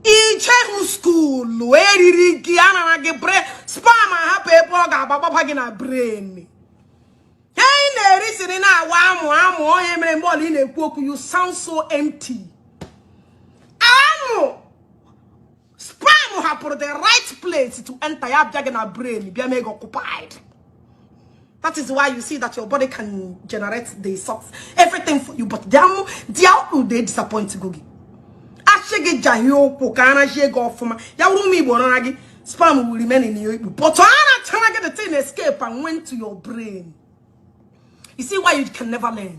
ijehu school eriri gị anara gị brain sperm ahapụ ebe ọ ga-agbagbaba gị na brain ihe ị na-eri siri na-awa amụ amụ ọ ya mere mgbe ọla ị na-ekwu okwu you sound so empty amụ sperm hapụrụ the right place to enter ya bịa gị na brain bịa mee gị occupied That is why you see that your body can generate the socks, everything for you, but they are they are they disappoint Gogi. Ashe gị jahie ụkwụ ka ara jie gị ọfụma ya wụrụ ụmụ Igbo rara gị sperm will remain in your Igbo but ara chara gị the thing escape and went to your brain. You see why you can never learn.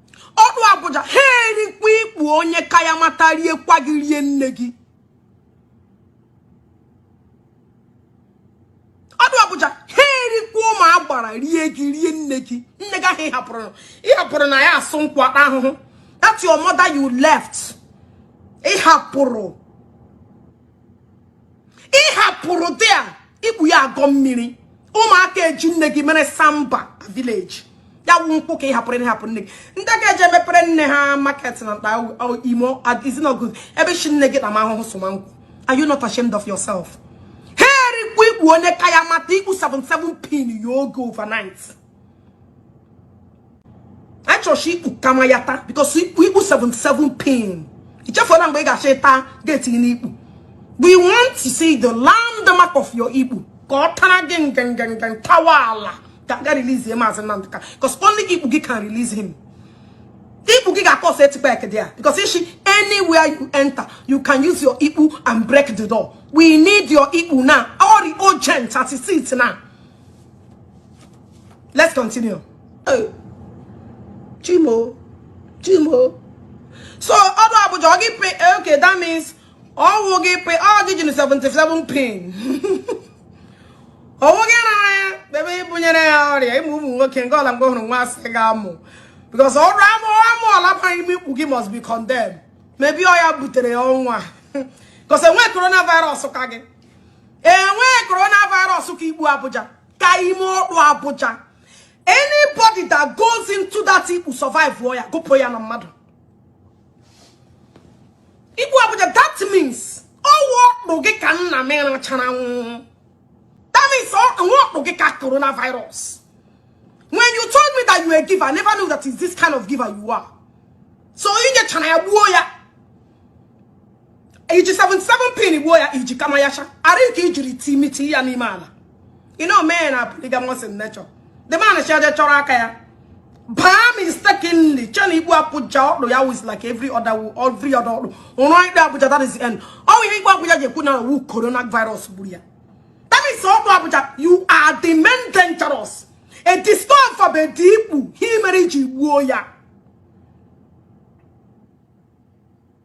ọdụ Abuja ha erikwa ikpu onye ka ya mata rie kwa gị rie nne gị ọdụ Abuja ha erikwa ụmụ agbara rie gị rie nne gị nne gị ahụ ịhapụrụ ịhapụrụ na ya asụ nkwụ ata ahụhụ that your mother you left ịhapụrụ ịhapụrụ there ikpu ya agọ mmiri ụmụaka eji nne gị mere samba na village ya wụ nkwụ ka ị hapụrụ ị hapụ nne gị ndị ga-eje mepere nne ha market na mkpa imo izinogo ebe chi nne gị n'ime ahụhụ sụma nkwụ are you not ashamed of yourself ha erikwu ikpu onye ka ya mata ikpu 77 pin ya oge overnight achọrọchi ikpu kama ya taa because ikpu ikpu 77 pin ichefuola mgbe ị ga-achọ ịta ga-etinye n'ikpu we want to see the landmark of your ikpu ka ọ tara gị nganganga tawa ala ka ga release ya maazị Nnamdi Kanu because only ikpu gị can release him ikpu gị ga-akọ ọsọ etikpa ekede ya because ishi anywhere you enter you can use your ikpu and break the door we need your ikpu now ọ rị urgent at 6 now let's continue chi m o chi m o so ọdụ Abuja ọ gị pay eh, okay that means ọwụ gị pay ọ gị jiri 77 pin ọwụ gị rara ya ebe ibunyere ya ọrịa ịmụ ụmụ nwoke nke ọla mgbe hụrụ nwa asị ga amụ because ọrụ amụ amụ ọla bara ime ikpu gị must be condemned maybe ọ ya butere ya ọnwụ because enwe coronavirus ka gị enweghị coronavirus ka ikpu Abuja ka ime ọkpụ Abuja anybody that goes into that ikpu survive ya gụpụ ya na mmadụ ikpu Abuja that means ọwụ ọkpụ gị ka nna m rachara nwụọ that means ọwụ ọkpụ gị ka coronavirus when you told me that you were a giver I never knew that is this kind of giver you are so ị nyechara ya gbuo ya iji 77 pin gbuo ya iji kama ya cha ara ike ijiri timiti ya n'ime ala ị na omee na polygamous in nature the man charge chọrọ aka ya baa mistakenly chee na ikpu Abuja ọkpụ ya was like every other every other ọkpụ ụrụ ikpu Abuja that is the end ọ ihe ikpu Abuja ji ekwu na ọwụ corona virus gburu ya that is ọkpụ Abuja you are the main dangerous a discover bụ edi ikpu ihe mere iji gbuo ya